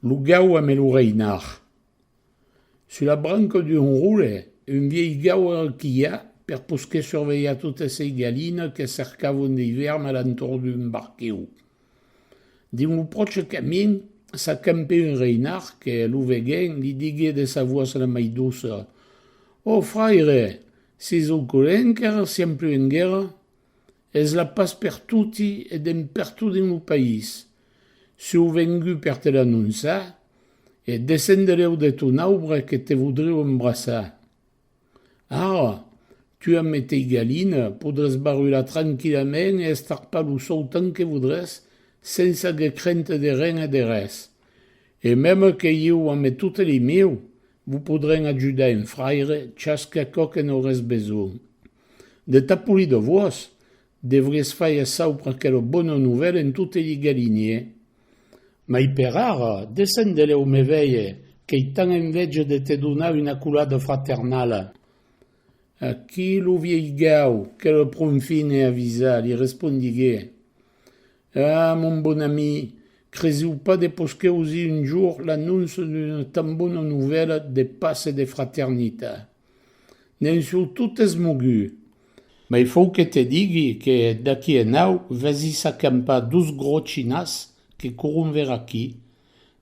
Lo gaua me lo reinar. Sus la branca d'un roure, un vièlh gaua quilha per posquer survelhar totes sei galinas que cercavan dei vèrm a l'entorn d'un barquèu. Dins lo pròche camin, s'acampè un reinar que, lo veguent, li diguè de sa voas la mai doça, Ò fraire, seis au corrent qu'èra siempleu en guèrra? Es la pas per toti e dempertot dins lo país. Sieu vengut per te l'anonçar e descendereu de ton aubre que te vodrieu embrassar. Ara, tu a me tei galina, podràs barular tranquillament e estarpar lo sòu tant que vodràs sens ager crente de ren e de res. E meme que ieu ame totes li mieu, Vos podrem ajudar en fraire chasque aquò que n'aurès besonh. De ta poli de vos, devries faire saupre aquela bona novèla en tote li galinier. Mai per ara, descend de lèu me veir, qu'ei tant envèja de te donar una colada fraternala. Aquí lo vielh gau, que le pronfin e avisat, li respondigué. Ah, mon bon ami, cresiu pas de posqui ausi un jour l'annonça d'una tan bona novèla de pas e de fraternitat. Ne'n sou tot esmogut. Mai fau que te digui que d'aquí enau vesi s'acampar dos gros chinas que courun ver aquí,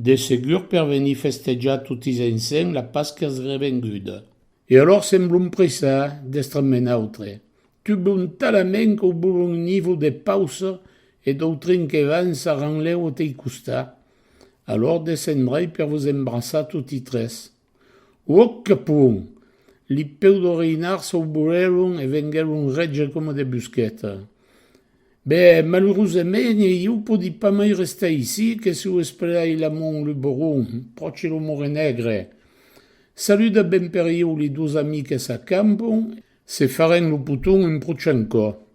de segur per venir festejar totis ensenh la Pasquia revenguda. E alors semblom pressar d'estre me'n autre, Tu bon talament qu'au bolon nivou de pausa e d'autrin que van s'arranleu au tei costat, alor descendrai per vos embrassar toti tres. Uòc que pon! Li peu d'orinar s'au bolelon e venguelon rètge coma de busqueta. Be, malurosament e ieu podi pas mai restar ici que si o esplerai la mon lu boron, pròchi lo morenègre. Saluda ben per ieu li dos amiques a Campon Se farèn lo poton un prochen còp.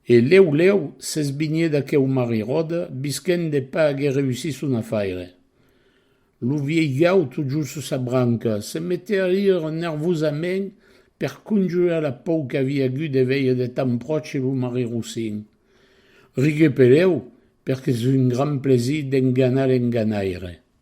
E lèu lèu s'esbinhèt aqueu marri ròde bisquèn de pas aguer reussí son afaire. Lo vièlh gau totjorn sus sa branca se metèt a rire nervosament per conjurar la pòur qu'aviá agut de veire de tan pròche lo marri Rossin. Riguèt per lèu perque es un grand plaisir d'enganar l'enganaire.